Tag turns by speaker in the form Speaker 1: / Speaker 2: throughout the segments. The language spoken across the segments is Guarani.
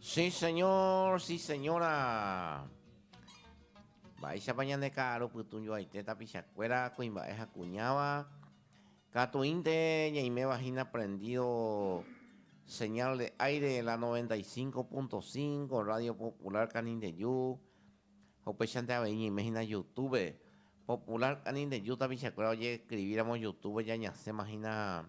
Speaker 1: Sí señor, sí señora. Mba'éichapa ñande ka'aru pytũjoaite tapichakuéra kuimba'e ha kuñáva, katuínte ñaiméva hína prendido señal de aire la 95.5 Radio Popular Canindeju, ha upéichante avei ñaime hína Youtube, Popular Canindeju tapichakuéra ojeescribíramo Youtube-pe ñañasẽma hína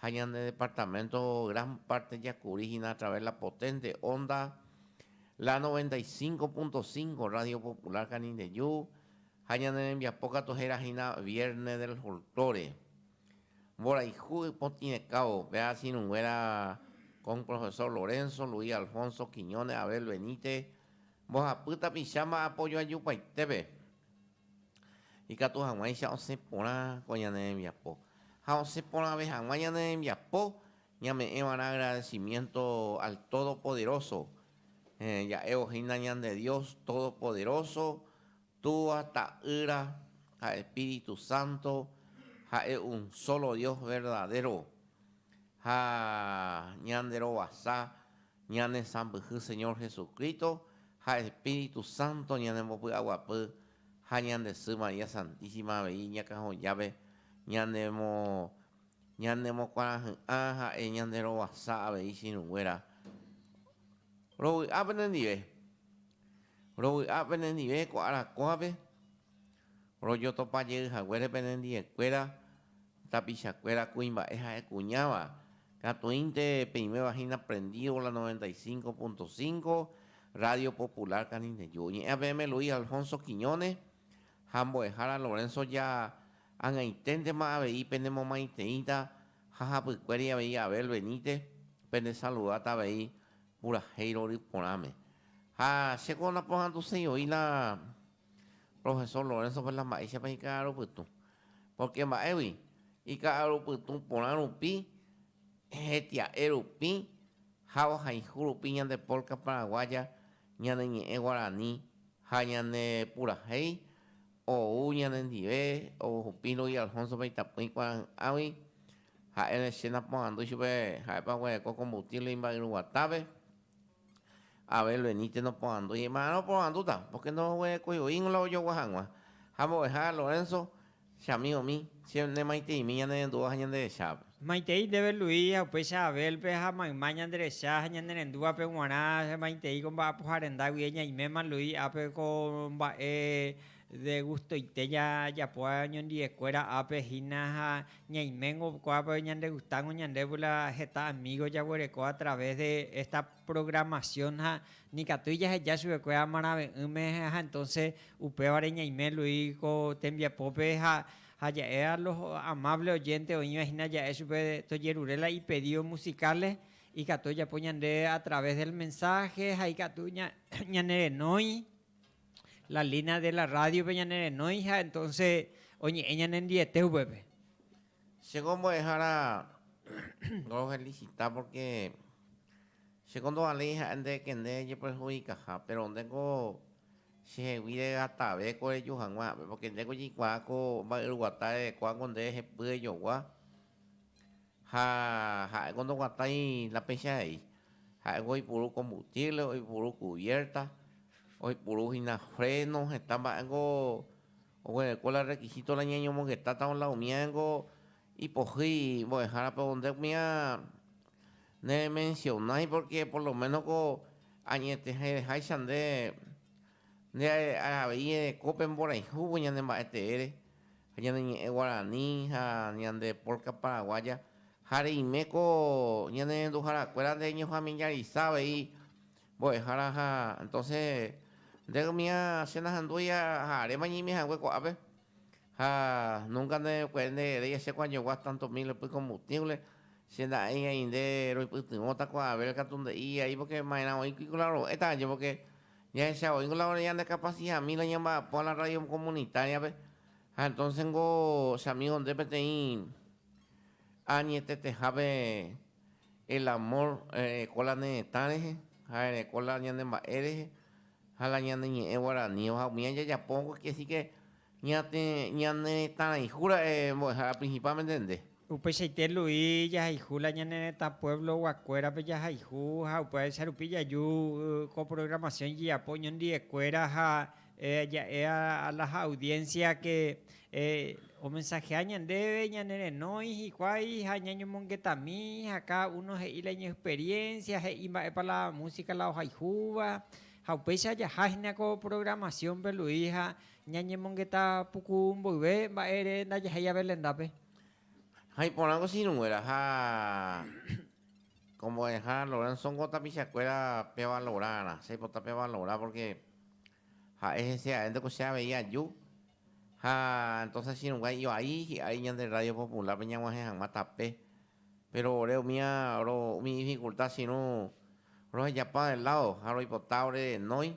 Speaker 1: Ha ñane departamento gran parte jakuri hina a través la potente onda la 95.5 Radio Popular Canindeyu ha ñane rembiapo katu hera hina Viernes del Folklore. Mborayhu ipotĩrekao pe asirunguera con Profesor Lorenzo, Luis Alfonso, Quiñones, Abel Benítez, mbohapy tapicháma apoyo ajupaitépe. Ikatu hag̃uáicha osẽ porã ko ñane rembiapo. Ha osẽ porãve hag̃ua ñane rembiapo, ñame'ẽva'erã agradecimiento al Todopoderoso. Ja'évo hína ñande Dios Todopoderoso, Túva, Ta'ýra ha Espíritu Santo, ha'e un solo Dios verdadero. Ha ñande rovasa Ñane sãmbyhy Señor Jesucristo ha Espíritu Santo ñanembopy'aguapy ha ñande sy María Santísima avei ñakãhojápe ñanemo ñanemokuarahy'ã ha'e ñanderovasa avei chiruguéra rovy'a penendive rovy'a penendive ko arakuápe rojotopajeyhaguére penendive kuéra Tapichakuéra kuimba'e ha'e kuñáva, katuínte peĩvéva hína prendívo la 95.5, Radio Popular Canindeju. Oñe'ẽa peẽme Luis Alfonso Quiñones ha mbo'ehára Lorenzo Ja ag̃aiténtema avei penemomaiteĩta ha hapykuéri avei Abel Benítez pendesaludáta avei purahéi rory porãme. Ha chéko naporanduséi oĩ la Profesor Lorenzo-pe la mba'éichapa ika'arupytũ? Pórke mba'égui? Ika'arupytũ porã rupi, hetia'e rupi ha ohayhu rupi ñande polka paraguaya, ñane ñe'ẽ guarani ha ñane purahéi ou ñanendive oguhupi Luis Alfonso-pe itapỹi kuarahy'ãgui. Ha'e che naporandu chupe ha'épa oguereko combustible imba'yruguatápe. Abel Benítez noporandu ijepararã oporandúta pórke ndoguerekói oĩngo la ojogua hag̃ua. Ha mbo'eha Lorenzo, che amígomi, che nemaiteimi ñanerendúva ha ñanderechápe. Maitei ndéve Luis ha upéicha Abélpe ha mayma ñanderecha ha ñanerendúvape g̃uarã che maitei ko mba'apoha rendágui eñaiméma Luis ápe ko mba'e De gustoite jajapo ñondiekuéra ápe hína ha ñaiméngo ko'ápe ñandegustángo ñandévo la heta amígo jaguereko a través de esta programación ha nikatúi jaheja chupekuéra amarave'ỹme ha entonces upévare ñaime lui ko tembiapópe ha ja'e a los amables oyentes oĩva hína ja'e chupe tojerure la ipedidos musicales ikatu ojapo ñande a través del mensaje ha ikatu ñanerenói. la línea de la radio-pe ñane renói ha entonce oñe'ẽ ñanendiete upépe. Che ko mbo'ehára ro felicita porque che ko ndovaléi ha'e nde ekende ejeperjudicaha, pero nde ko chehegui regatave ko reju hag̃ua ha'e, porque nde ko jeikuaa ko mba'yruguata erekóva ko nde hepy ejogua. Ha ha'éko ndoguatái la péicha he'i. Ha'éko oipuru kombustiévle, oipuru kuviérta, oipuru hína fréno, heta mba'éko oguereko la rrekisíto la ñañomongetátava la umíarengo ipohýi mbo'ehárape. Nde umía neremensionái pórke poloménoko añeteháicha nde. Nde are'aha avei ereko pe mborayhúvo ñane mba'e teére ha ñane ñe'ẽ guarani ha ñande polka paraguaya ha reime ko ñane renduhára kuéra nde ñofamiliarisa avei mbo'ehára ha entonse nde mía che nahandúi ha aréma ñaime hague ko'ápe ha nunka nde puere nde rei aché ko añogua tanto mil epy combustible che nda'ei ainde roipytyvõta ko Abel katu nde'i ai porque maerã oĩ kui ku la ro'éta aje porque Jahecha voi kolaborar ñande kapasihami la ñamba'apo a la rrádio komunitariape, ha entónse niko che amígo nde peteĩ añetetehápe el amór ojereko la ne retã rehe, ha ojereko la ñane mba'e rehe ha la ñane ñe'ẽ guaraníva. Ha umi aña jajapo, que sí que Ñate ñane retãrayhu ra'e mbo'ehára principalmente nde. Upeichaite Lu'i jahayhu la ñane retã pueblo guakuérape jahayhu ha upévaicha rupi jaju ko programación jejapo oñondive kuéra ha ja'e a las audiencia que omensajea ñandéve ñane renói hikuái ha ñañomongetami ha cada uno he'i la iñi experiencia he'i mba'épa la música la ohayhúva ha upéicha jaha hína ko programación pe Lu'i ha Ñañemongeta puku mboyve mba'ére ndajahai jave lendápe. Ha iporãngo sirũnguéra ha kombo'eha Laurent sóngo tapichakuéra pevalorarã. Che aipota pevalora pórke ha'e hese arénte ko che avei aju. Ha entóse chirũnga ivai hi'ári ñande Rrádio Populárpe ñag̃uahẽ hag̃ua tape. Péro ore umíva umi difikulta che irũ rohejapa de ládo ha roipota ore renói.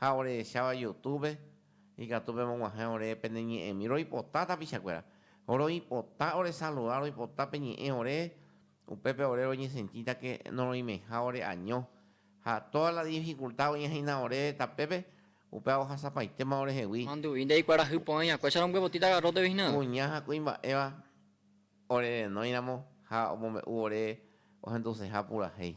Speaker 1: ha orehecháva Youtube-pe, ikatu pemog̃uahẽ ore pene ñe'ẽmi. Roipota tapichakuéra. Roipota oresaluda, roipota peñe'ẽ ore, upépe ore roñesentítake noroimeiha ore año. Ha tóda la difikulta oĩhahína ore tapépe, upéva ohasapaitéma orehegui. Manduvi ndaikuarahy porãi akuécha rombyepotĩta garróte hína. Kuña ha kuimba'éva orerenóiramo ha omombe'u ore ohenduseha purahéi.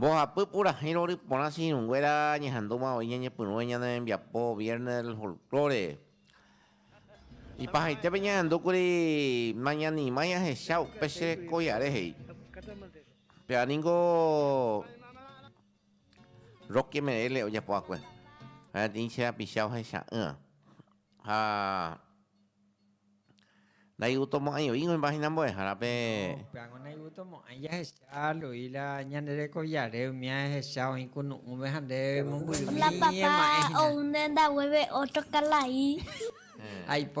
Speaker 1: Mbohapy purahéi rory porã che irũnguéra ñehandúma voi ñañepyrũve ñane rembiapo Viernes del Folklore. Ipahaitépe ñahendúkuri nañanimái ahecha upe che rekoiare he'i. Péva ningo Roque Merelle ojapo akue ha'eteĩ che rapicha ohecha'ỹva ha ndaivutomo'ãi oĩgui hymbahyna mbo'ehára pe. No, pe ango ndaivutomo'ãi jahecha Luis la ñane rekoviare umi ahecha oĩ kunu'ũve ha nde mombyrymi ema'ẽ hína. La papá ou ne ndaguéve otro kalai. Aipo.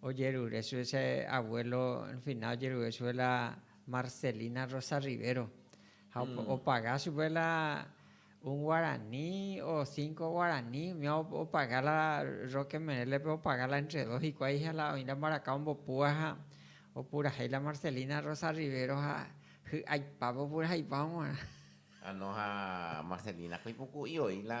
Speaker 1: Ojerure chupe che abuelo fina ojerure chupe la Marcelina Rosa Rivero ha opaga chupe la un guarani o cinco guarani oime opaga la Roque Menélepe opaga la entre dos hikuái ha la oĩ la mbaraka ombopúva ha opurahéi la Marcelina Rosa Rivero ha hy'aipápe opuraheipa hag̃uarã. Ano ha Marcelina-ko ipuku'i oĩ la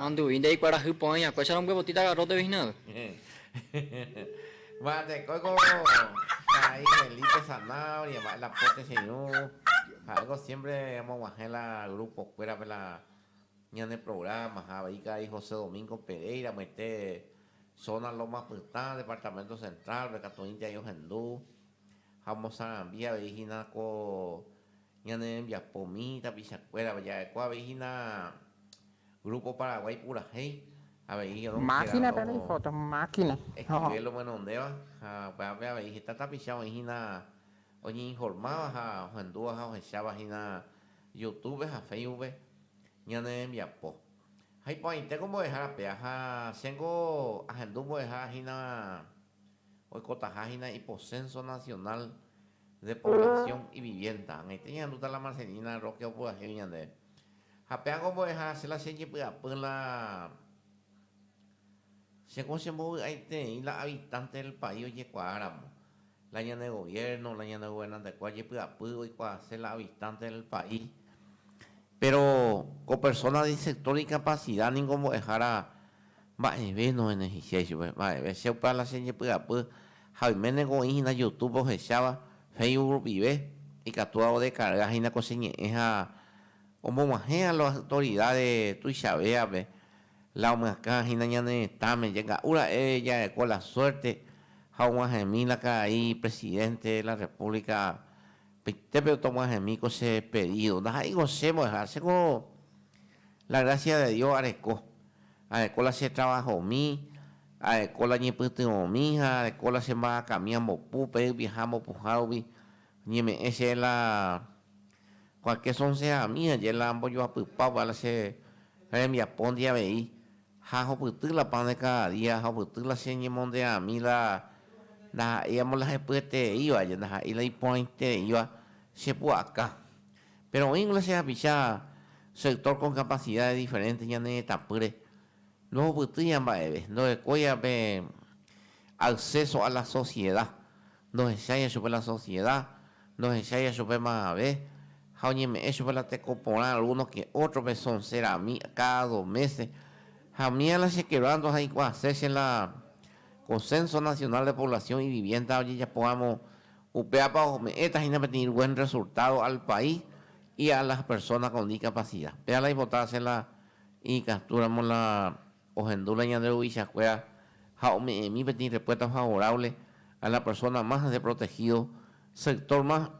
Speaker 1: Mandu'i nde ikuarahy po'ãi hakuécha rombyepotíta garrótepe hína avei. Mba'e teko ko karai Felipe Zanahoria mba'e la póte che irũ ha'éko siémpre omoguahẽ la grupokuérape la ñane prográma ha avei karai José Domingo Pereira amoite zóna Loma Pytã departamento centrálpe katuĩnte avei ohendu ha omosarambí avei hína ko Ñane rembiapo mihi tapichakuéra veja'ekue avei hína Grupo Paraguái purahéi avei oronguera escribe lomenondéva ha upe ápe avei heta tapicha oĩ hína oñeinformáva ha ohendúva ha ohecháva hína Youtube ha Facebookpe ñane rembiapo. Ha iporãitéko mbo'ehára pea ha chéngo ahendu mbo'ehára hína. Oikotaha hína iposénso nasionál de poblasión iviviénta. Ag̃aite ñahendúta la Marcelina Roque opyahégui ñandéve. Ha péaco ombo'eha che la chejepy'apy la che ko chembovy'aitereĩ la habitante del país ojekuaa ramo, la ñane gobierno, la ñane gobernante-kue ojepy'apy oikuaase la habitante del país. Péro ko persona di sector di capacidad ningo mbo'ehára. Mba'eve nohenehiséi chupe, mba'eve. Che upéva la chejepy'apy ha oiméne ko oĩ hína Youtube ohecháva, Facebook rupive, ikatúva odekarga hína ko che ñe'ẽ ha omog̃uahẽ a los autoridades tuichavévape la omyakã hína ñane retãme. Jenga'u ra'e jareko la suerte ha og̃uahẽmi la karai Presidente de la República peitépe otog̃uahẽmi ko che pedido. Ndaha'éi ko che mbo'eha, che ko La grásia de Dios areko. Areko la che travahomi, areko la ñepytyvõmi ha areko la che mba'akami ambopu pe yvieha ambopuha rupi. Oñeme'ẽ che la kuake sonseami aje la ambojoapypa opa la che rembiapóndi avei, ha ahopyty la pan de cada día, ahopyty la che ñemonderãmi la ndaha'éi amolahepyetereíva aje, ndaha'éi la iporãitereíva che pu'aka. Péro oĩ Iglésia japicha sector con capacidades diferentes ñane retãpýre, ndohupytýiva mba'eve, ndorekóiva pe acceso a la sociedad, ndohecháiva chupe la sociedad, ndohecháiva chupe mavave ha oñeme'ẽ chupe la teko porã alguno que otro pe son serami cada dos meses. Ha umi ala chequebrando ha iku'ase che la Consenso Nacional de Población y Vivienda ojejapo ramo Upévapa ome'ẽta hína peteĩ buen rresultádo al país y a las persónas con discapacidad. Péva la ipota asẽ la ikatúramo la ohendu la ñande ruvichakuéra ha ome'ẽmi peteĩ repuesta favorable a la persona más deprotegido, sector más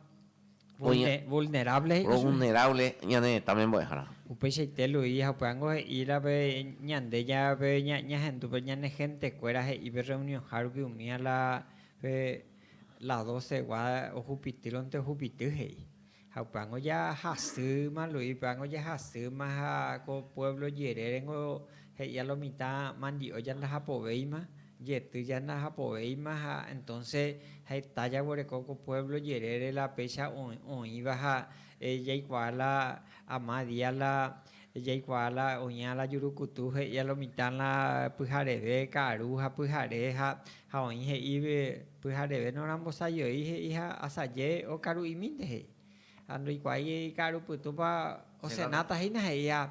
Speaker 1: vulnerable, pro vulnerable ñane retãme mbo'ehára. Upeichaite Luis ha upévango he'íra pe ñande ya pe ñahendu pe ñane gentekuéra he'i pe reunionha rupi umi a la pe La docegua ohupitýrõnte ohupity he'i. Ha upévango jahasýma Luis, upévango jahasýma ha ko puévlo jerérengo he'i a lo mitã mandi'o jandahapovéima, jety jandahapovéima ha entónse heta jaguereko ko puévlo jerére la péicha oĩva ha jaikuaa la ama día la jaikuaa la oĩva la jurukutu he'i a lo mitã la pyhareve, karu ha pyhare ha Ha oĩ he'ígui, Pyhareve norambosajoi, he'i ha asaje okaru'imínte, he'i. Ha ndoikuaái ika'aru pytúpa osenáta hína, he'i ha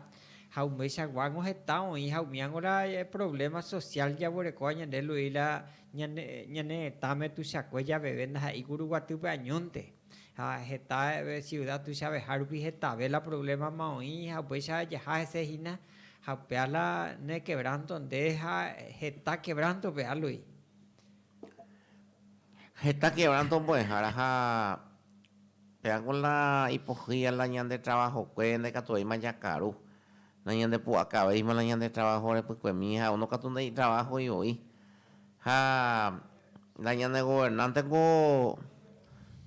Speaker 1: ha umícha guángo heta oĩ ha umíango la provléma sosiál jaguerekóva ñande lu'i la ñane ñane retãme tuichakue javeve ndaha'éi kuri guatýpe añónte. Ha heta siuda tuichavehárupi hetave la provlémama oĩ ha upéicha jaha hese hína. Ha upéva la ne kevránto nde ha heta kevránto pe álui. Heta kevránto mbo'ehára ha péva ko la ipohýi ha la ñande travahokue ndaikatuvéima jakaru, nañandepu'akavéima la ñande travaho repykuemi ha uno katu ndai'itravahoi voi. Ha la ñane governánte ko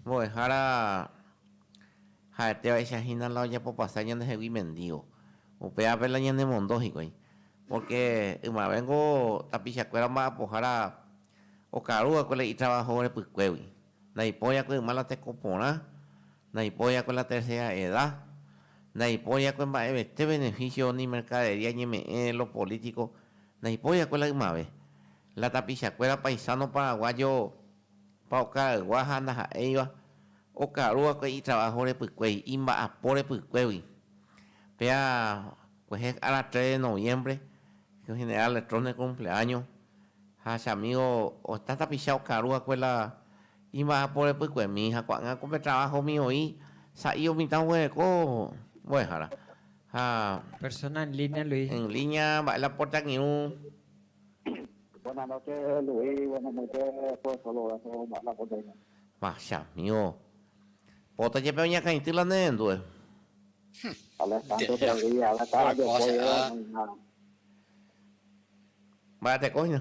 Speaker 1: mbo'ehára Ha'ete va'icha hína la ojapopasa ñandehegui mendígo. Upévape la ñanemondo hikuái. Pórke ymavéngo tapichakuéra omba'apohára okarúva'ekue la itravaho orepykuégui. Ndaipóriakue yma la teko porã, ndaipóriakue la tersera eda, ndaipóriakue mba'evete benefísio ni merkadería ñeme'ẽ lo polítiko, ndaipóriakue la ymave. La tapichakuéra paisáno paraguáyo. Opa okaraygua ha ndaha'éiva okaru va'ekue itraváho repykuéi, imba'apo repykuégui. Péa kuehe ára tres de noviembre, el general Letrone ocumpleaño, ha che amigo oĩta tapicha okaru va'ekue la imba'apo repykuemi ha ko'ág̃a ko pe travahomi oĩ sa'i omitã oguereko mbo'ehára. Ha. Persona en línea, Luis. En línea mba'e la porta kiru. Vachamiõ. Pota jepe oñakãity la ne rendue. Mba'eteko hína.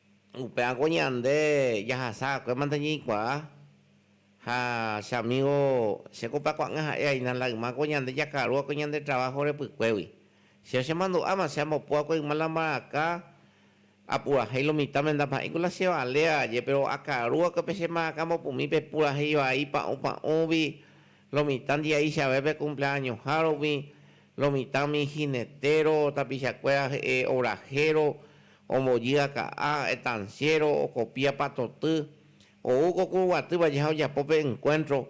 Speaker 1: Upe'áko ñande jahasa va'ekue mante ñeikuaa ha che amígo che ko pe akuaa'ỹa ha'e aína la yma ko ñande jakaru va'ekue ñande traváho repykuégui. Chéve chemandu'áma che ambopu va'ekue yma la mbaraka apurahéi lo mitã menda pa'ĩ ku la chevale aje, péro akaru va'ekue pe che mbaraka ambopumi pepurahéi vai pa'ũ pa'ũgui lo mitã ndia'i che avépe kumpleañohárupi, Lo mitãmi jinetéro, tapichakuéra he'e orahéro, ombojy aka'a, etansiéro, okopia patoty, ou ko kurguaty vaje ha ojapo pe enkuéntro,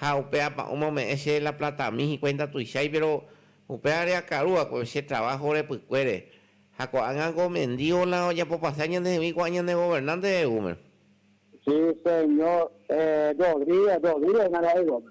Speaker 1: ha upe apa'ũme ome'ẽ che la platami hikuái ndatuichái, péro upéva reakarúva ko che traváho repykuére, ha ko'ág̃a ko mendío la ojapopase añandehegui ko'ã ñane governánte re'úme. Sí, señor. Eh, Rodríguez, Rodríguez nara'e góme.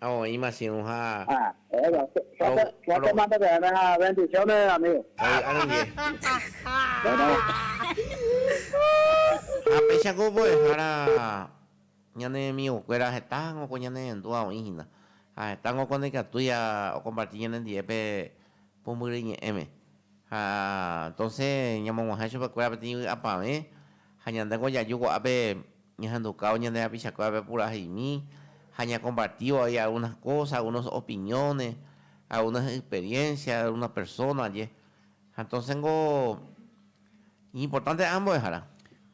Speaker 1: Ha oĩma chiru ha. Ah, bueno, suerte, suerte mando que venga, bendiciones amigo. Ovy'a rendive. Bueno. Ha péichako mbo'ehára ñane amigokuéra hetágo ko ñane rendúva oĩ hína, ha hetágo ko ndaikatúi okomparti ñanendive pe pumbyry ñe'ẽme. Ha entonce ñamog̃uahẽ chupekuéra peteĩ vy'apavẽ ha ñandéko jaju ko'ápe. Ñahendukao ñane rapichakuérape puraheimi ha ñakompartívo vai algunas cosas, algunos opiniones, algunas experiencias de algunas personas ndie. Ha entonces ningo iñimportánte ambuehára.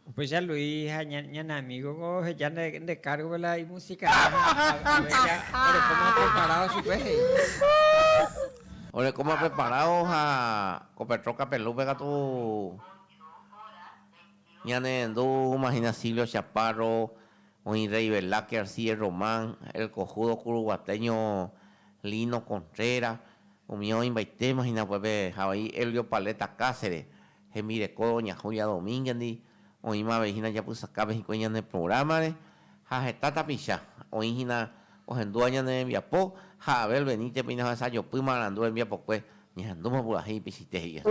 Speaker 1: Upéicha Luis ha ñane amígoko oheja nde kárgope la imusikáva ha ave réra orekóma preparádo chupe he'i. Orekóma preparádo ha ko Petró Kapelúpe katu. Ñane rendu húma hína Silvio Chaparro, oĩ Rey Velázquez, Sigue Román, el cojudo kuruguateño Lino Contreras, umi oĩmbaitéma hína upépe ha vai Elvio Paleta Cáceres, hembireko doña Julia Domínguez-ndi, oĩma avei hína japysakápe hikuái ñane prográmare. ha heta tapicha, oĩ hína ohendúva ñane rembiapo, ha Abel Benítez peina ohesajopy marandu rembiapokue, ñahendúma purahéi ipichite, he'i asy.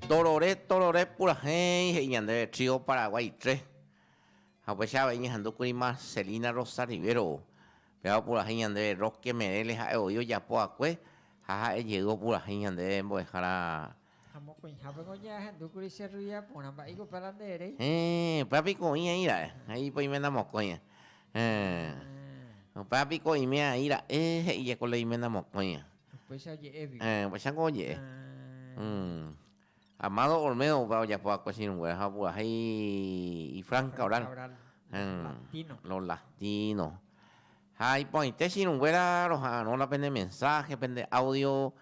Speaker 1: Torore, torore purahéi, he'i ñandéve Trío Paraguay tre. Ha upéicha avei ñahendúkuri Marcelina Rosa Rivero, péva opurahéi ñandéve Roque Merelle ha'e voi ojapo va'ekue ha ha'e jey opurahéi ñandéve mbo'ehára. Ha mokõihápe ko ñahendúkuri che rruida porã, mba'éiko upéva la nde erei? Héẽ, upéva piko oĩ aĩ ra'e, he'i piko oiména mokõi. Héẽ, upéva piko oime aĩ ra'e, he'i jeko la oiména mokõi. Upéicharamo oje'e. Amado Olmedo opa ojapo va'ekue chirũngue ha opurahéi ifranca oral, los latinos. Ha iporãite chirũnguéra roha'arõla pende mensaje, pende audio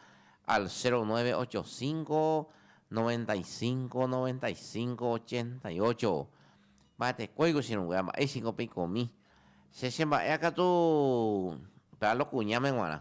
Speaker 1: al 0985 95 95 88. Mba'etekóiko chirũnguéra, mba'éichiko peikomi. Che chemba'éakatu pealo kuñáme g̃uarã.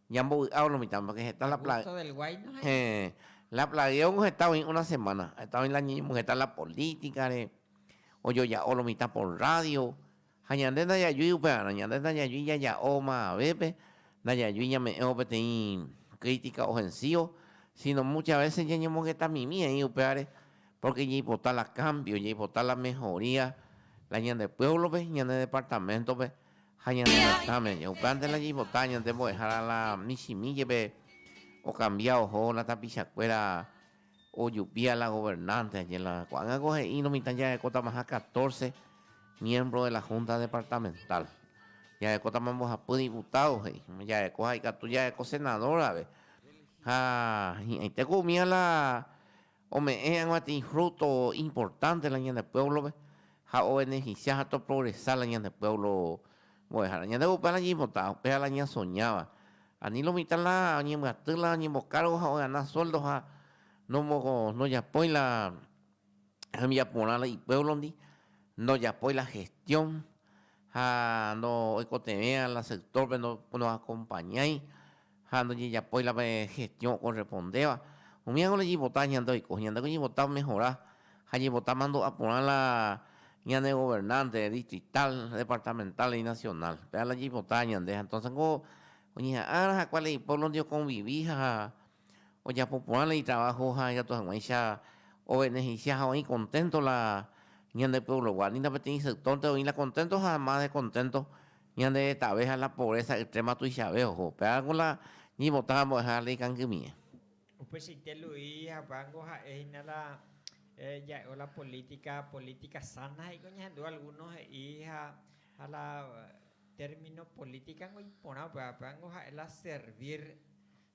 Speaker 1: Ñambovy'a umi mitãme, pórke heta la pla... Gusto del Guayno hai. Héẽ, la plaguéongo heta oĩ una semána, heta oĩ la ñeñembyheta la polítikare, ojoja'o lo mitã por rrádio, ha ñande ndajajui upevarã, ñande ndajajui jaja'o mavavépe, ndajajui ñame'ẽvo peteĩ krítika ofensívo, síno múcha vése ñañemongetamimi aĩ upévare, pórke jaipota la kámbio, jaipota la mehoría la ñande puévlope, ñane departaméntope. ha ñane retãme ñauplántela jaipota ñande mbo'ehára la michĩmi jepe okambia oho la tapichakuéra ojupia la governante añe la ko'ág̃a ko he'írõ mitã jarekótamaha catorce miembro de la junta departamental jarekótama mbohapy diputado he'i jareko ha ikatu jareko senador rave ha hi'ãitéko umía la Ome'ẽ hag̃ua tei fruto importante la ñane pueblo-pe ha obeneficia ha toprogresa la ñane pueblo mbo'ehára. Ñande upe ára ñaipotã, upe ára ñasoñáva. Ani lo mitã la oñembyaty la oñembocargo ha ogana sueldo ha ndojapói la hembiaporã la ipueblo-ndi, ndojapói la gestión ha ndo'oikotevẽva la sector-pe, ndoacompañái. ha ndojejapói la pe gestiõ okorrespondéva, umi ág̃a rejipota ñande oiko, ñandéko ñaipota omehora ha ñaipota mandu'a porã la ñane governánte distritál, departamentál ani nasionál. Péva la jaipota ñande ha entónse niko oñeha'ãrõ ha kua la ipuévlonte okonvivi ha ojapo porã la itraváho ha ikatu hag̃uáicha ovenehencia ha oĩ konténto la ñande pueblogua. Ni la peteĩ sektónte oĩ la konténto ha más de konténto. Ñande retãve ha la pobreza extrema tuichave oho, upévarãko la ñivotã ambueha ha la ikangymie. Upeichaite Luis ha upévango ha'e hína la ja'évo la política, política sana he'íko ñahendu alguno he'i ha ha la término políticango iporã upéva, upévango ha'e la servir,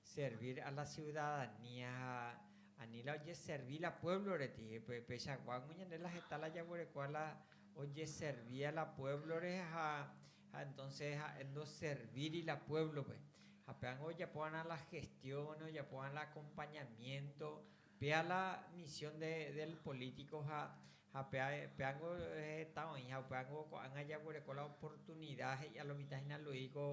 Speaker 1: Servir a la ciudadanía ha ani la ojeservi la puévlore, ti. Pechagua ñande la heta la jaguereko a la ojeservi a la puévlore ha entónse ha'e ndoservíri la puévlope. Ha péango ojapo va'erã la gestiónes, ojapo va'erã la akompañamiénto, péa la misión del polítiko ha Ha pe, pe ángo heta oĩ, ha upe ángo ko'ág̃a jaguereko la oportunida, he'i'a lo mitã hína Luis ko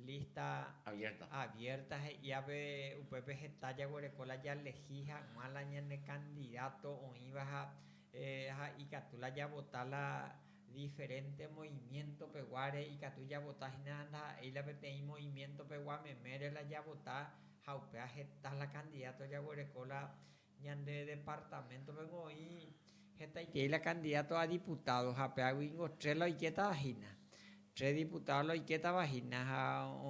Speaker 1: lista. Abierta. Abierta he'iápe, upépe heta jaguereko la jalehi hag̃ua la ñane candidato oĩva ha, eh, ha ikatu la javota la diferente movimiento peguáre, ikatu javota hína ndaha'éi la peteĩ movimiento pegua memére la javota, ha upéva heta la candidato jaguereko la Ñande departamento-pe oĩ hetaiterei la candidato a diputado, ha apeágui ingo tres la oikétava hína. Tres diputado la oikétava hína, ha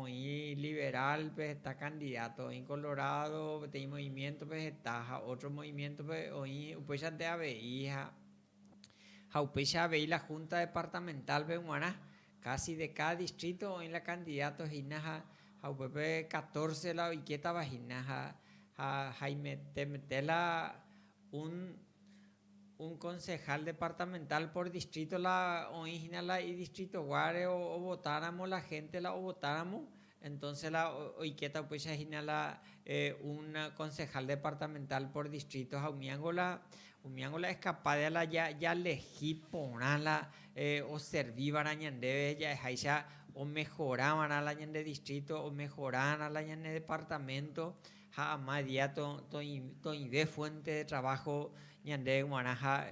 Speaker 1: oĩ liberal-pe heta candidato, oĩ colorado peteĩ movimiento-pe heta ha otro movimiento-pe oĩ upéichante avei ha. Ha upéicha avei la Junta Departamental-pe g̃uarã, kási de káda distríto oĩ la kandidáto hína ha ha upépe catorce la oikétava hína ha ha haimetemete la un un concejal departamental por distrito la oĩ hína la idistritoguáre ovotáramo la hénte la ovotáramo Entonce la oikéta upéicha hína la un concejal departamental por distrito ha umíango la umíango la escapa de la jalehi porã la oservíva'erã ñandéve ja'eháicha omejoráva'erã la ñande distrito, omejorárã la ñane departamento ha ama día toĩve fuente de trabajo ñandéve g̃uarã ha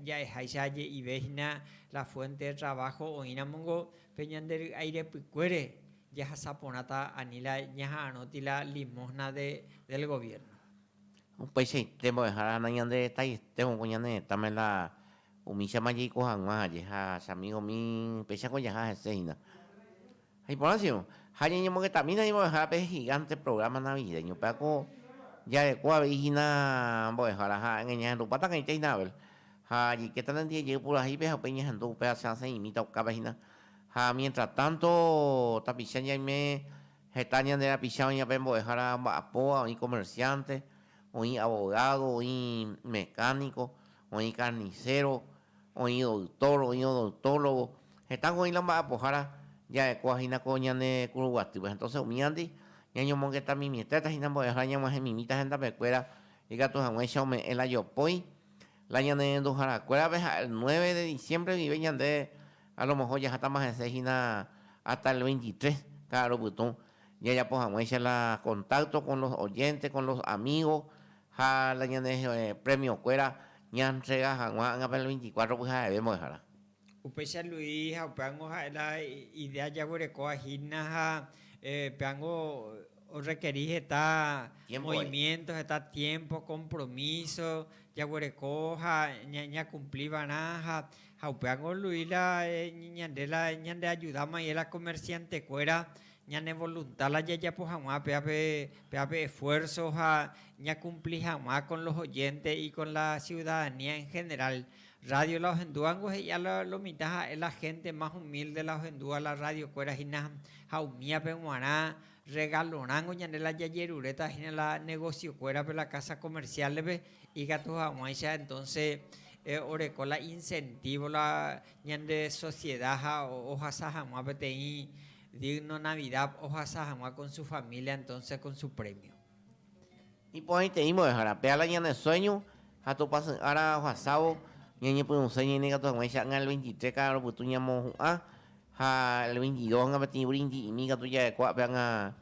Speaker 1: ja'eháicha je'ive hína la fuente de trabajo oĩramongo Pe ñande ry'ái repykuére jahasa porãta ani la ñaha'arõti la limosna de del gobierno. Upeichaite mbo'ehára ha nañanderetaietevõ ko ñane retãme la umíchama jaiko hag̃ua ha jeha chamigo mi pechako jaha hese hína. Ha iporãsio, ha ñañemogetãmína ni mbo'ehára pe gigante programa navideño pe ako jareko avei hína mbo'ehára ha ñahendupáta kaitei na Abel. Ha jaikéta nandijejey purahéipe ha upéi ñehendu upéva che asẽ imíta okápe hína. Ha miéntra tánto tapicha ñaime heta ñande rapicha oĩva pe mbo'ehára mba'apóva, oĩ komersiánte, oĩ avogádo, oĩ mekániko, oĩ karniséro, oĩ doytór, oĩ odoytólogo, hetãko oĩ la mba'apohára ja'ekóva hína ko ñane kuru guatýpe. Entóse umívandy ñañomongetamimietéta hína mbo'ehára ñag̃uahẽmimíta hendapekuéra ikatu hag̃uáicha ome'ẽ la jopói, La ñanerenduharakuérape ha el nueve de diciembre guive ñande alomoho jahátama hese hína hasta el veintitrés ka'aru pytũ jajapo hag̃uáicha la contacto con los oyentes, con los amigos ha la ñane premio-kuéra ñantrega hag̃ua ág̃ape el veinticuatro pyhareve mbo'ehára. Upéicha Luis ha upévango ha'e la idea jaguerekóva hína ha pévango orrekeri heta movimiento, heta tiempo, compromiso jaguereko ha ñakumpli va'erã ha upévango Luis la ñande la ñandeajudáma iye la comerciantekuéra ñane volunta la jajapo hag̃ua pévape, pévape esfuerzo ha ñakumpli hag̃ua con los oyentes y con la ciudadanía en general. Radio la ohendúvango he'ia la lo mitã ha'e la hénte más humílde la ohendúva la radiokuéra hína ha umíape g̃uarã rregalorãngo ñande la jajeruréta hína la negosiokuérape la kása komersiálepe, ikatu hag̃uáicha entónse oreko la insentívo la ñande sosieda ha ohasa hag̃ua peteĩ dígno Navidad ohasa hag̃ua kon su família entónse kon su prémio. Iporãiteĩ mbo'ehára, péala ñane sueño ha topasy ára ohasávo ñañepyrũse ñaine katu hag̃ua icha'nga el veintitrés kára ropytu ñamohu'ã ha el veintidósg̃a peteĩ vrindi'imi katu ja'ekuaa péanga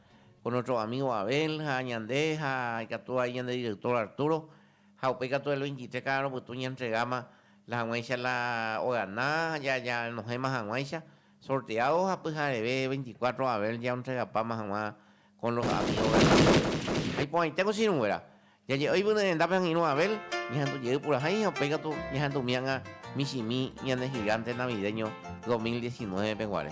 Speaker 1: con nuestro amigo Abel ha ñande ha ikatu vai ñande director Arturo ha upéi katu el veintitrés kára ropytu ñaentregáma la hag̃uáicha la ogana ja janohẽma hag̃uáicha sorteado ha pyhareve veinticuatro Abel jaentregapáma hag̃ua Con los amigos de Abel. Ha iporãite ko chiruguéra, jaje'ói vy ne rendápe angirũ Abel, ñahendu jey purahéi ha upéi katu ñahendu mianga michimi ñane gigante navideño 2019 pe guare.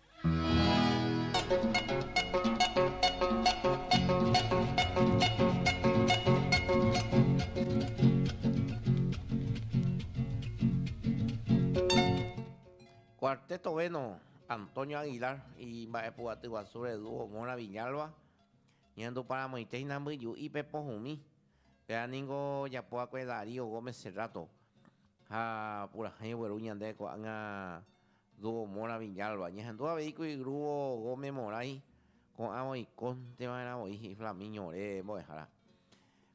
Speaker 1: Cuarteto veno Antonio Aguilar imba'epu'aty guasúre dúo Móra Viñalba ñahenduparamoite hína mbyju'i pe pohũmi. Péva ningo ojapo va'ekue Darío Gómez Cerrato ha purahéi ogueru ñande ko'ág̃a Dúo Mora Villalba, ñehendu avei ku igrúvo Gómez Moray, ko'ãva oikónte va'erã voi, he'i Flamiño ore mbo'ehára.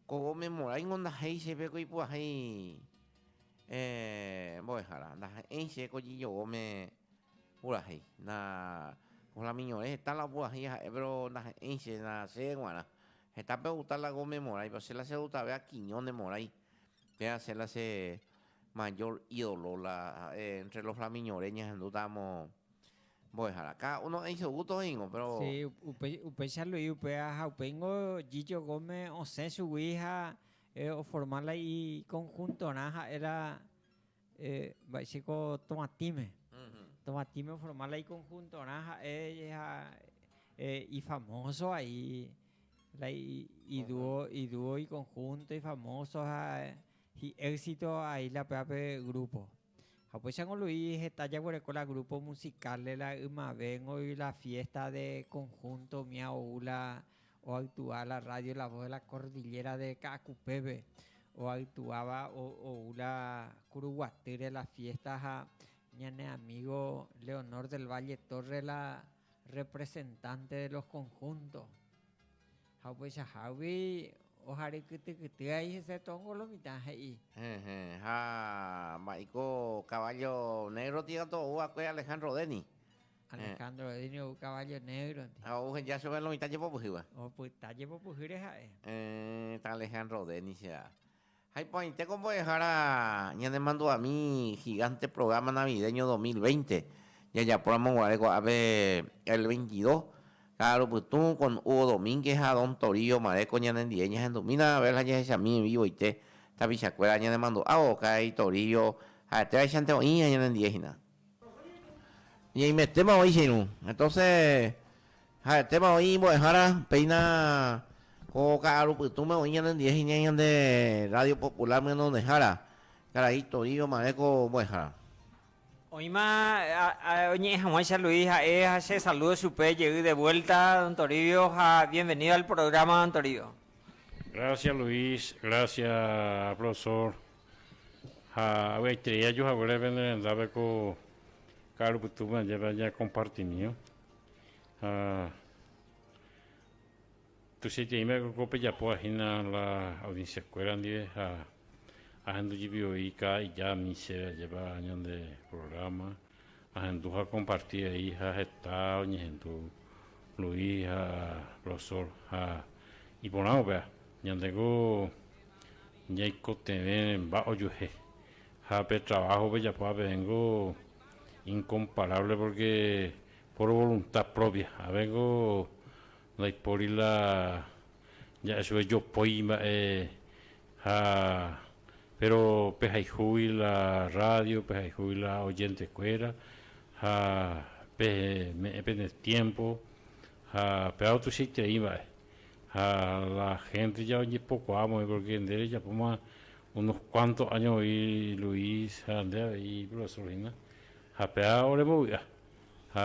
Speaker 1: Ko Gómez Moray ningo ndahéi chéve ko ipu'ahéi mbo'ehára, ndaha'éi che ko Gillo Gómez purahéi. Ko Flamiño ore heta la opurahéi ha'e péro ndaha'éi che, ndaha'éi che g̃uarã. Hetápe outa la Gómez Moray, péro che la chedutave a Quiñónez Moray, Pe hace la se mayor ídolo la ha'e entre los flamiñore ñahendútamo mbo'ehára. Cada uno he'i su gusto he'ingo, pero... Sí, upéicha Luis upéva ha upéingo Gillo Gómez osẽ chugui ha oforma la i conjuntorã ha'e la Mba'éichako Tovatĩme. Tovatĩme oforma la ikonhuntorã ha'e ha ifamóso vai la iduo ikonhunto ifamóso ha hi'éxito ha isla pévape grúpo. Ha upéicharamo Lu'i heta jaguereko la grúpo musikál la ymavéngo la fiésta de konhunto umía ou la. Oaitúa la radio La Voz de la Cordillera de Ka'akupépe, oaitúava ou la Kuruguatýre la fiesta ha ñane amigo Leonor del Valle Torres la representante de los conjuntos. Ha upeichahágui ohary kytykyty ai hese tóngo lo mitã he'i. Hehe, ha mba'éiko caballo negro tĩva to'ouva'ekue Alejandro Deni. Alejandro Godínez ou caballo negro-nte. Ha ou heja chupe lo mitã jepopyhýva. Opyta jepopyhýre ha'e. Eh, ta Alejandro Godínez-chea. Ha iporãitéko mbo'ehára ñanemandu'ami gigánte programa navideño dos mil veinte, jajapóramo guare ko'ápe el veintidó, ka'aru pytũ, kon Hugo Domínguez ha don Torío Maréco ñanendie ñahendumína Abel ha jahechami vivoite tapichakuéra ñanemandu'ávo, karai Torío ha'etévaichante oĩ ha ñanendie hína. Ñaimetéma oĩ che irũ. Entonce ha'etéma oĩ imbo'ehára, péina ko ka'aru pytũme oĩ ñanendie hiñãi ñande Radio Popular Myñandejára, karai Toĩ omare ko mbo'ehára. Oĩma oñe'ẽ hag̃ua che Luis ha'e ha che saludo chupe jey de vuelta don Toribio ha bienvenido al programa don Toribio. Gracias Luis, gracias Profesor. Ha avyaiterei aju haguére pende rendápe ko ka'aru pytúpe ajépe añakompartimíva. Ha tuichaitereímava'ekue ko pejapóva hína la audienciakuéra ndive ha ahendu jepi voi káda ijami chéve ajépa ñande programa. Ahendu ha akomparti avei ha heta oñehendu Luis ha Rosol ha iporãvo péva ñandeko ñaikotevẽ mba ojuehe ha pe trabajo pejapo pevéngo inkomparable porque por voluntad propia avéngo ndaipóri la ja'e chupe jopói mba'e Ha péro pehayhúgui la rrádio, pehayhúgui la ojentekuéra ha peme'ẽ pene tiémpo ha peávo tuichaiterei mba'e. Ha la hénte ja ojepokuaa voi pórke nde rejapóma unos kuánto áño voi Luis ha nde avei iprofesór hína, ha péa orembovy'a. Ha.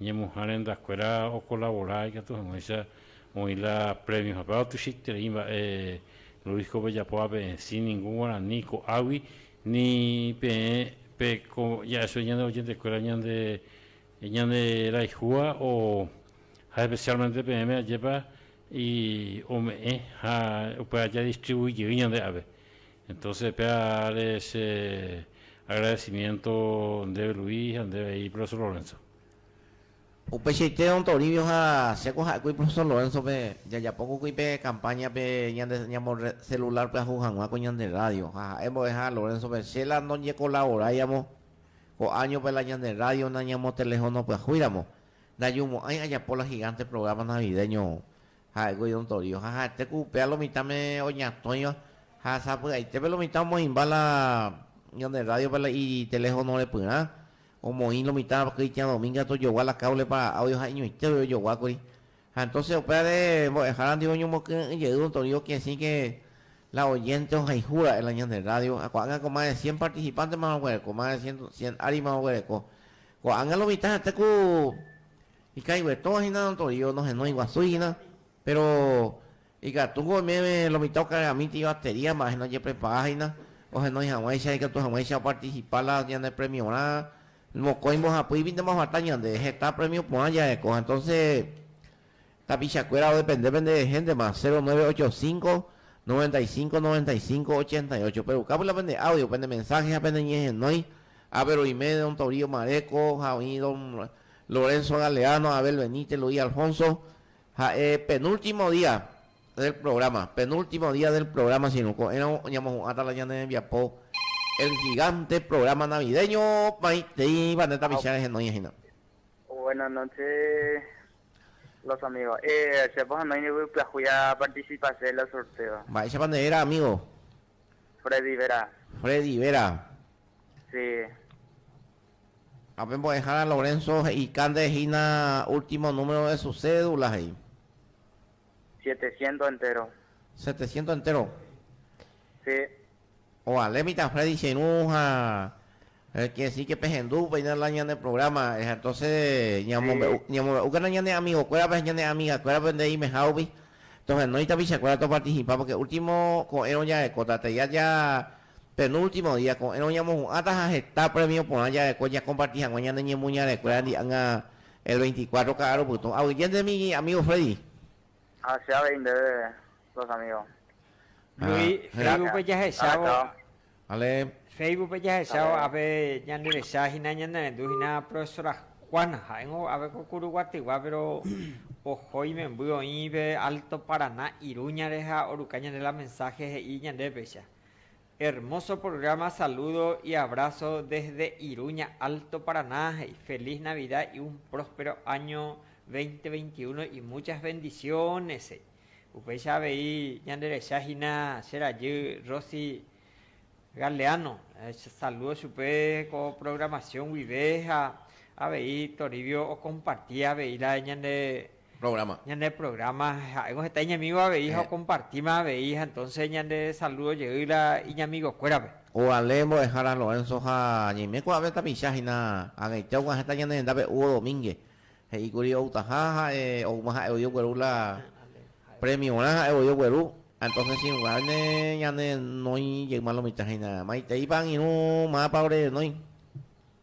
Speaker 1: Ñemuha rendakuéra okolabora ikatu hag̃uáicha oĩ la prémio hapéva otuichaiterei mba'e Luis ko pejapo ape'ẽsĩ ningu guarani ko'águi ni peẽ pe ko ja'esói ñande ojentekuéra ñande ñande rayhúva o ha especialmente peẽme ajépa i ome'ẽ ha upéva jadistribuijey ñande ave Entonces péa áre che agradecimiento ndéve Luis ha ndéve he'i Profesor Lorenzo. Upeichaite Don Toribio ha che ko ha'ekue Profesor Lorenzo-pe jajapo kokuy pe campaña-pe ñande ñamo celular pyahu hag̃ua ko ñande radio ha ha'e mbo'eha Lorenzo-pe che la ndoñekolavoraiamo ko año-pe la ñande radio nañamotelefono pyahúiramo ndajumo'ãi ajapo la gigante programa navideño Ha'e ko idontorio, ha ha'ete ku upéva lo mitãme oñatõiva, ha sapy'aitépe lo mitã omoĩmba la ñande rrádiope la iteléfono repyrã, omoĩ lo mitã Cristian Domínguez tojogua la káblepa áudio ha iñoitépe ojoguákuri. Ha entóse upévare mbo'ehára ndive oñomokyre'ỹ jey idontorio kesĩke la oyénte ohayhu ra'e la ñande rrádio, ha ko'ág̃a ko más de cien partisipántema oguereko, más de cien, cien árima oguereko. Ko'ág̃a lo mitã ha'ete ku Ikãi guetõva hína notorio, nohenói guasúi hína, péro ikatúko oiméne lo mitã okareramíti ibatería mba'e nojeprepara hína, ohenói hag̃uáicha, ikatu hag̃uáicha opartisipa la ñane premiorã, mokõi mbohapýipi ndomaguata ñande, heta prémio porã jarekóva. Entónse tapichakuéra odepende pende héntema, cero nueve ocho cinco, noventa y cinco, noventa y cinco, ochenta y ocho. Perukápy la pende áudio, pene mensáhe ha peneñehenói, ápe ruime don Torío Maréko ha oĩ don. Lorenzo Galeano, Abel Benítez, Luis Alfonso, ha'e penúltimo día del programa, penúltimo día del programa si no ko'ẽrõ oñamohu'ãta la ñane rembiapo El Gigante programa navideño opaitéiva ne tapicha rehe noñehína. Buenas noches los amigos. Eh, chépa ha noĩndive pyahúi a participase de la sorteo. Mba'éichapa nde réra amigo? Freddy Vera. Freddy Vera. Sí. Ha pe mbo'ehára Lorenzo he'ika nde hína último número de su cédula, he'i. Setecientos enteros. Setecientos enteros. Sí. Ovale mitã Freddy che irũ ha quiere decir que pehendu upéina la ñane programa, entonces ñamombe'u, sí, ñamombe'úkena ñane amigo kuérape ha ñane amiga kuérape nde imeha rupi, tohenói tapicha kuéra to participa porque último ko'ẽrõ jarekóta, tei aja Penúltimo día, ko'ẽrõ ñamohu'ãta ha heta prémio porã jareko jakomparti hag̃ua ñane ñemoñarekuérandi ág̃a el veinticuatro ka'arõ pytũ. Aguyjénte mi amígo Freddy. Ha che avei ndéve los amígo. Luis, Facebookpe jahechávo. Vale. Facebookpe jahechávo ápe ñanderecha hína ñanerendu hína profesora Juana. Ha'éngo ápe ko Kuru Guatyguá, péro oho imemby oĩ pe Alto Paraná Iruñare ha oruka ñande la mensáhe he'i ñandépecha. Hermoso programa saludo y abrazo desde Iruña Alto Paraná y feliz Navidad y un próspero año 2021 y muchas bendiciones he'i. Upéicha avei ñanderecha hína che rajy Rosy Galeano saludo chupe ko programación guive ha avei Toribio o comparti avei la ñande programa. Ñande programa ha'éngo heta iñamigo avei ha okompartíma avei ha entonce ñande saludo jey la iñamigokuérape. Ko Ale Mbo'ehára Lorenzo ha ñaime kuaave tapicha hína ag̃eite oguã heta ñane rendápe Hugo Domínguez, he'i kuri outaha ha'e oúma ha'e voi ogueru la premiorã ha'e voi ogueru ha entonce si oguáne ñane renói jeýma lo mitã hína maiteipa angirũ mápa ore renói.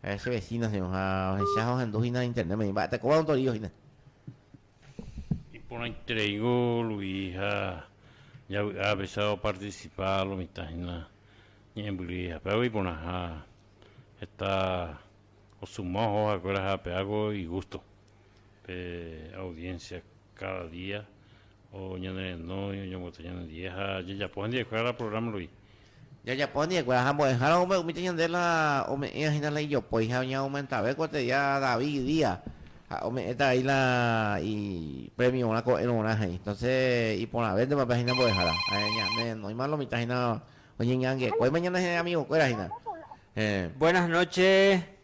Speaker 1: Ha'e che vecino hína ha ohecha ha ohendu hína internet me imba'e tekóva ontorío hína. Iporãitereíngo Luis ha javy'a pesa opartisipa lo mitã hína ñe'ẽmbyry hapeágui iporãha heta osuma oho ha'ekuéra ha ape'águi igusto. Pe audiencia cada día oñenereno oñemboty ñandie ha jajapo hendie kuéra programa rupi. Jajapo hendie kuéra ha mbo'ehára oúme umíta ñande la ome'ẽva hína la ijopói ha oña aumentave kuate día David día ha ome'ẽta vai la i premio rã ko'ẽrõ rã he'i. Entonces iporãvéntema pe hína mbo'ehára ha ñanerenóima lo mitã hína oñeñangue kuéima ñane amigo kuéra hína. Buenas noche.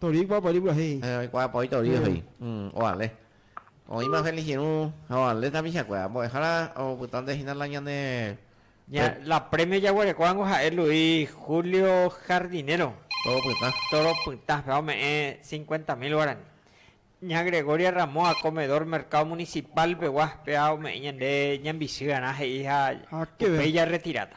Speaker 1: Tori oikuaa paóri purahéi. Oikuaa paóri tori ohéi. Oale. Oĩma Feligirũ ha oale tapichakuéra. Mbo'ehára opytánte hína la ñane. La premio jaguerekóvango ha'e Luis Julio Jardinero. Toro Pytã. Toro Pytã. Péva ome'ẽ cincuenta mil guarani. Ña Gregoria Ramoa, comedor Mercado Municipal pegua, péva ome'ẽ ñande ñambichýarã he'i ha upéi jarretiráta.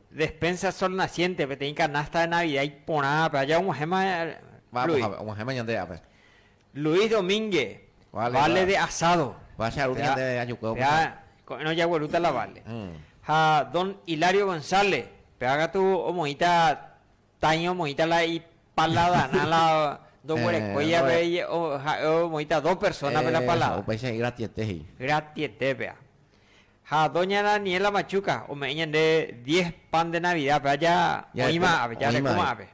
Speaker 1: Despensa Sol Naciente peteĩ canasta de Navidad iporãvape aja og̃uahẽma Luis. Vamos, og̃uahẽma ñande ape. Luis Domingue, Vale de Asado. Vale de Asado ñande ajukuévo. Péva ko'ẽrõ ojaguerúta la Vale. Ha Don Hilario González, péva katu omoĩta Taĩ omoĩta la ipaladarã la ndoguerekói ape ha'e omoĩta dos personape la paladar. Esa upéicha he'i gratiete he'i. Gratiete pea. Ha doña Daniela Machuca ome'ẽ ñande diez pan de Navidad pea ja oĩ va'ápe, ja reko va'ápe.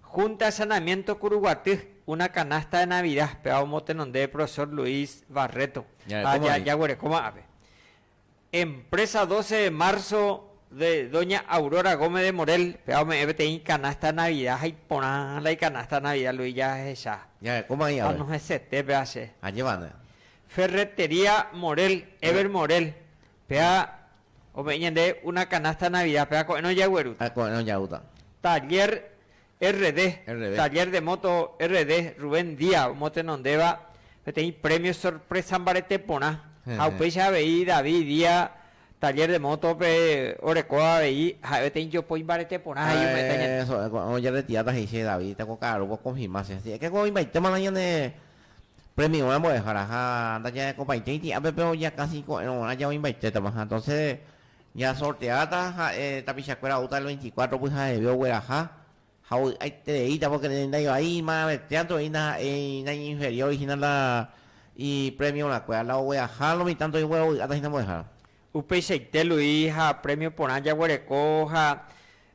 Speaker 1: Junta de Sanamiento Curuguaty, una canasta de Navidad pea omotenonde Profesor Luis Barreto ha jaguereko va'ápe. Empresa Doce de Marzo de doña Aurora Gómez de Morel, péva ome'ẽ peteĩ icanasta de Navidad ha iporã la icanasta de Navidad Luis jahecha. Ñae, kóma aĩ ave. Anohẽsete péva che. Añemane. Ferretería Morel, Ever Morel, péva ome'ẽ ñande una canasta de Navidad, péva ko'ẽrõ jaguerúta. Ah, ko'ẽrõ jaúta. Taller RD, Taller de Moto RD, Rubén Día omotenondéva peteĩ premio sorpresa mbarete porã ha upéicha avei David Día Taller de Moto-pe orekóva avei ha'e peteĩ jopói mbarete porã ha iñuhẽta ñande. Ko'ã ojeretiráta he'i che David teko ka'arúpe okonfirma che si ekeko oĩmbaite marã ñane premiorã mbo'ehára ha ndajarekopaitéi tĩ'ápe pe ojakãsi ko'ẽrõg̃uarã ja oĩmbaitétama ha entonces Ñasorteáta ha'e tapichakuéra oúta el veinticuatro pyhaheve ogueraha ha ovy'aitereíta pórke ndaivai imaravetiánte oĩ ndaha'éi naiñinferióri hína la ipremiorakuéra, la ogueraha lo mitã ndoĩ oguerovy'áta hína mbo'ehára. Upeichaite Luis ha prémio porã jaguereko ha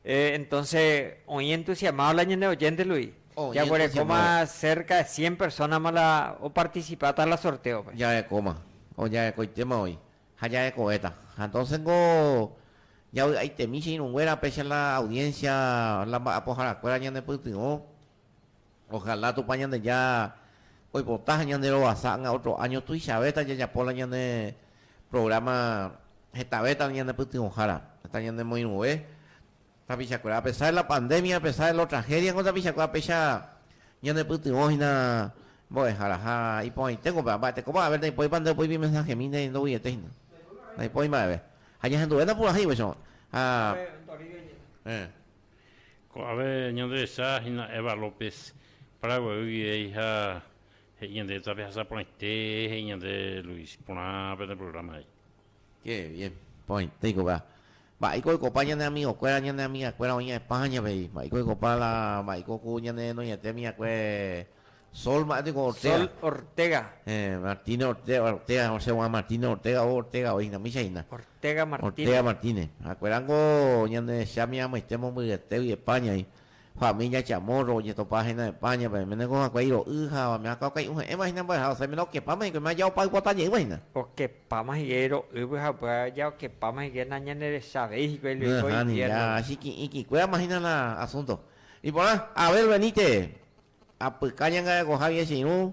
Speaker 1: entónse oĩ entusiamáva la ñane ovénte Luis. Jaguerekóma sérka de cien persónama la opartisipáta la sortéope. Jarekóma. Ojarekoitéma oĩ. Ha jahekovéta. Ha entonces niko javy'aitemi che irũnguéra péicha la audiencia, la mba'apoharakuéra ñanepytyvõ. Ojalá Tupã Ñandeja oipota ha ñanerovasa ág̃a otro año tuichavéta jajapo la ñane programa hetavéta ñanepytyvõhára, heta ñanemoirũve Tapichakuéra, a pesar de la pandemia, a pesar de los tragedias, ko tapichakuéra péicha ñanepytyvõ hína mbo'ehára ha iporãitéko pe amba'e tekópa haber naipoipa nde opoipi mensajemi ne ndoguiete hína, ndaipóri mba'eve ha ñahenduve napurahẽivo che ko'ã ha Ko'ãve ñanderecha hína Eva López Prado guéi guivéi ha he'i ñande tape hasaporãite he'i ñande Luis porã pene programa he'i. Qué bien. Porãitéi kóva. Mba'éiko oikopa ñane amigokuéra, ñane amigakuéra oĩva España pe y mba'éiko oikopa la mba'éiko ku ñane noiete amigakué Sol mba'e niko Ortega. Sol Ortega. Eh, Martínez Ortega, Ortega osẽ guã Martínez Ortega o Ortega oĩ hína, mícha hína. Ortega Martínez. Ortega Martínez. Ha'ekuéra niko ñanderecha miramboite mombyryetégui España y Família Chamorro ojetopa hína España-pe, Meneko ha'ekuéra iro'y ha Bamea Kawkai ohe'ẽva hína mba'e ha osẽ mérõ okepáma hikuái mérõ aja opa ypota jeýva hína. Okepáma hína iro'ýpe ha upéva aja okepáma hína nañanerecha avei hikuái lo iko inviérnope. Nahánilla, achiki'ĩkikuérama hína la asúnto. Iporã, Abel Benítez, apyka ñangarekoha viechirũ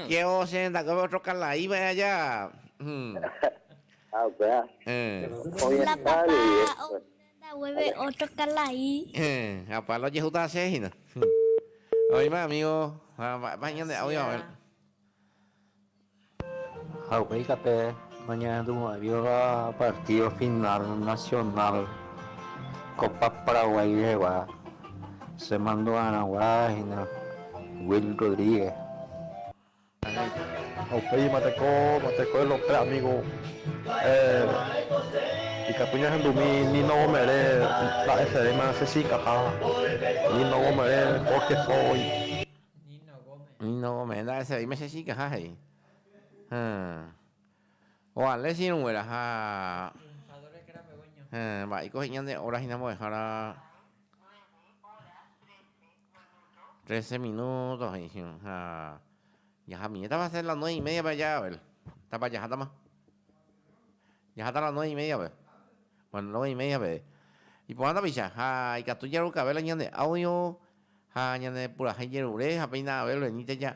Speaker 1: Kévo che rendakuépe otro kalai va'erã aja. Ha upéva oñeha'ã avei después. Ha Pablo ojehúta asẽ hína. Oĩma amigo ha mba'épa ñande audio va'erã. Ha upéi tape. Oñehendumo'ãiva partido final nacional copa Paraguay rehegua che mandu'aragua hína Will Rodríguez. Upéima teko escuela pe amigo ikatu ñahendumi Nino Bomberé mba'esevéima che sy ikatã Nino Bomberé Jorge Foy. Nino Bomberé nda'esevéima che sy ikaha he'i. Oale che irũnguéra ha mba'éiko he'íña nde óra hína mbo'ehára trese minúto he'i hína. Ha jahamiñétava asẽ la nueve y médiape aja avel, tápa jahátama? Jaháta la nueve y médiape? Bueno, nueve y média avei. Iporã tapicha ha ikatu jarukavéla ñande áudio ha ñanepurahéi jerure ha péina avel veníta ja.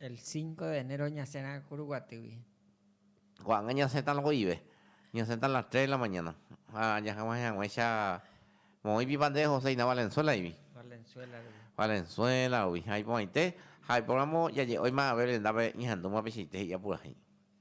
Speaker 1: El cinco de enero ñasẽrã kuru guatýgui. Ko'ág̃a ñasẽta lokoive. Ñasẽta a las tres de la mañana. Ha ajahag̃uahẽ hag̃uáicha moõi pipa nde José hína Valenzuela-igui. Valenzuela-gui. Valenzuela-gui. Ha iporãite, ha oiporamo jaje'óima aveve rendápe ñahendúma peichaite he'i apurahéi.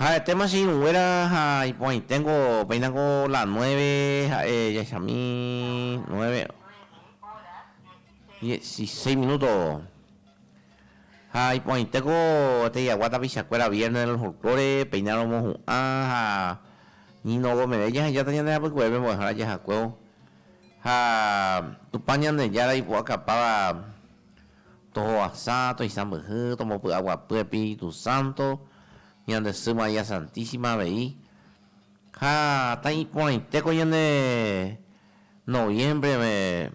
Speaker 1: Ha'etéma che irũnguéra ha iporãiténgo péinako la nueve ha'e jahechami nueve dieciséis minúto. Ha iporãitéko te'iagua tapichakuéra viérne del folklore, péina romohu'ã ha ni nogo meve jahejáta ñande hapykuérape mbo'ehára jahakuévo. Ha Tupã Ñandejára ipu'akapáva tohoasa, toisãmbyhy, tombopy'aguapy Espíritu Santo, ñande sy María Santísima avei. Ha tãi iporãitéko ñande noviembre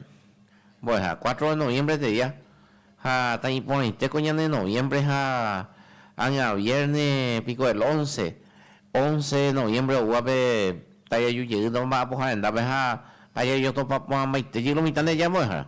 Speaker 1: mbo'eha, cuatro de noviembre teria, ha tãi iporãitéko ñande noviembre ha ág̃a vierne piko el once, Once noviembre oúva pe tái aju jey nomomba'a pohã rendápe ha ajajotopa porãmbaite jey lo mitã nde aja mbo'ehára.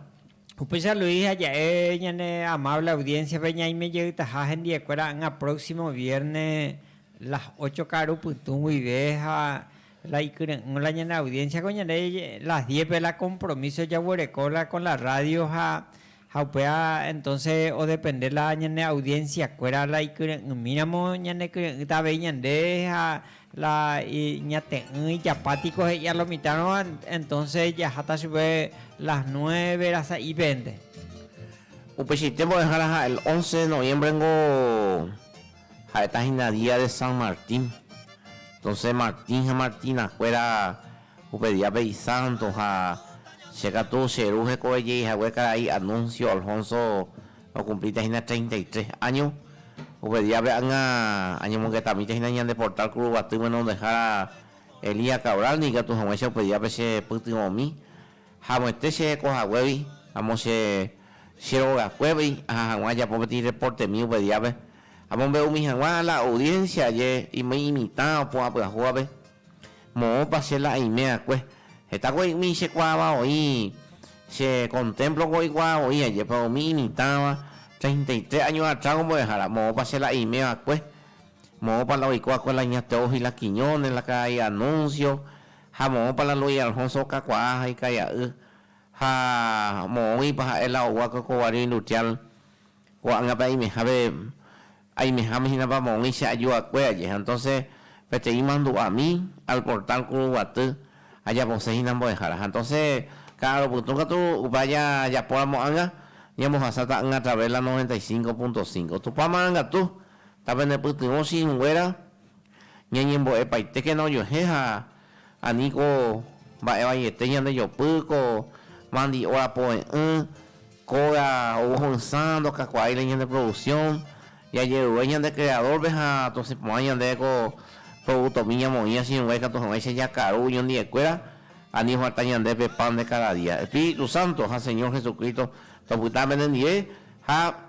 Speaker 1: Upéicha Luis ha ja'e ñane amable audiencia-pe ñaime jeytaha hendiekuéra ỹa próximo vierne las ocho karu pytũ guive ha la ikyre'ỹvo la ñane audiencia ko ñande las diez pe la compromiso jaguereko la con la radio ha Ha upéva entonce odepende la ñane audiencia kuéra la ikyre'ỹmíramo ñanekyre'ỹta avei ñande ha la ñate'ỹ ijapa tiko he'i a lo mitãrõva entonce jaháta chupe las nueve ra sa'i pende. Upeichaite mbo'ehára ha el once de noviembre niko ha'eta hína día de San Martín, entonce Martín ha Martina kuéra Upe día pe isanto ha che katu che ru hekove jey hague karai Anuncio Alfonso okumplíta hína treinta y tres áño. Upe díape ág̃a añomongetamíta hína ñande portál Kuruguaty Menondejára Elías Cabral ni ikatu hag̃uáicha upe díape che pytyvõmi haguẽte che reko haguégui amo che che rogakuégui aha hag̃ua ajapo peteĩ reportemi upe díape amombe'umi hag̃ua la audiencia aje imey imitã opu'ã pyahúvape. Moõpa che la aimeakue. Heta ko imi chekuaáva oĩ, che kontémplo ko ikuaa voi ajépa umi imitãva treinta y tres áño atrás ombo'ehára. Moõpa che la aimeva'ekue. Moõpa la oiko va'ekue la ña Teófila Quiñónez, la karai Anuncio, ha moõpa la Luis Alfonso okakuaa ha ikai'a'y. Ha moõguipa ha'e la ou va'ekue ko Guario Industrial ko'ág̃ape aimehápe Aimeháme hína papoguĩ che ajuakue aje, ha entonces peteĩ mandu'ami al portal kuruguaty ajapose hína mbo'ehára. Ha entonces ka'arõ pytũ katu upe aja japóramo anga, ñambohasáta anga a través la 95.5. Tupã marangatu, ta penepytyvõ che irũnguéra ñañembo'epaitékena ojuehe ha Aníko mba'e vaiete ñandejopy ko mandi óra poe'ỹ, kóga ou ho'ysã ndokakuaáile ñande produksión, jajeruve ñande kreadórpe ha tosẽ porã ñande ko prodútomi ñamoĩ asirũngue ikatu hag̃uáicha jakaru oñondi'ekuéra, ani ofarta ñande pe pan de káda día. Espíritu sánto ha Señor Jesucristo, topyta penendive ha.